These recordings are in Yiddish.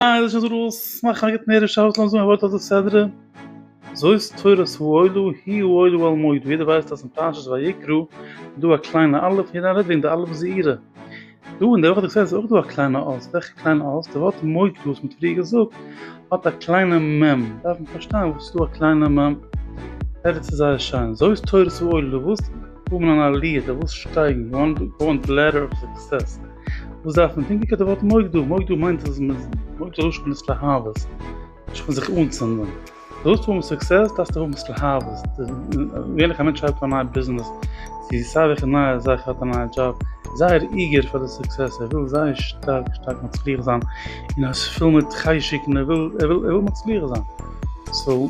אה, דאס איז א רולס, מאך א גוט נערישע הארץ לאמיר זאגן א ווארט אויף די סדרה, זאת תורת האלו היא האלו על מועדו, יעדער ווייסט אז אין פרשת ויקרא איז דא א קליינע אלף און יעדער רעדט וועגן די אלף זעירא, דא אין די וואך די סדרה איז אויך דא א קליינע אות, וועלכע קליינע אות? די ווארט מועדו וואס מ'האט פריער געזאגט האט א קליינע מ', דארף מען פארשטיין וואס איז דא א קליינע מ', ערגעץ איז זייער שיין, זאת תורת האלו, די וואס האבן אן עליה, די וואס שטייגן, גאון די לעדער אוו סוקסעס. וואס דארף מען טונקען קען די ווארט מוגדור מוגדור מיינט אז מען מויט דער לשון איז להבות נישט פון זיך אנצינדן דו האסט האבן סוקסעס דארפסט האבן עס להבות ווען איך א מענטש האט א נייע ביזנעס זי זאג איך אין נייע זאך האט א נייע דזשאב זייער איגער פאר די סוקסעס ער וויל זייער שטארק שטארק מצליח זיין און עס פיל מיט חשק און ער וויל ער וויל ער וויל מצליח זיין סאו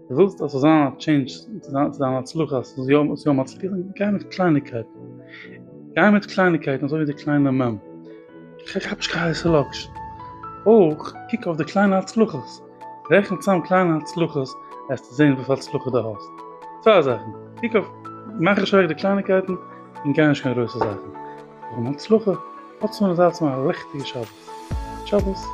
דו ווילסט אז ס'זאל זיין א טשעינדזש צו דיין הצלחה, אז ס'זאל יא יא מצליח זיין, גיי מיט קלייניגקייטן, גיי מיט קלייניגקייטן אזוי ווי די קליינע מ', כאפ נישט קיין הייסע לאקשן, אויך קוק אויף די קליינע הצלחות, רעכן צאם קליינע הצלחות העסטו זען וויפיל הצלחה דו האסט, צוויי זאכן, קוק אויף, מאך נישט אוועק די קלייניגקייטן, און גיי נישט קיין גרויסע זאכן, פארן הצלחה, האטס אן אזאטס פאר א לעכטיגע שבת, שבת.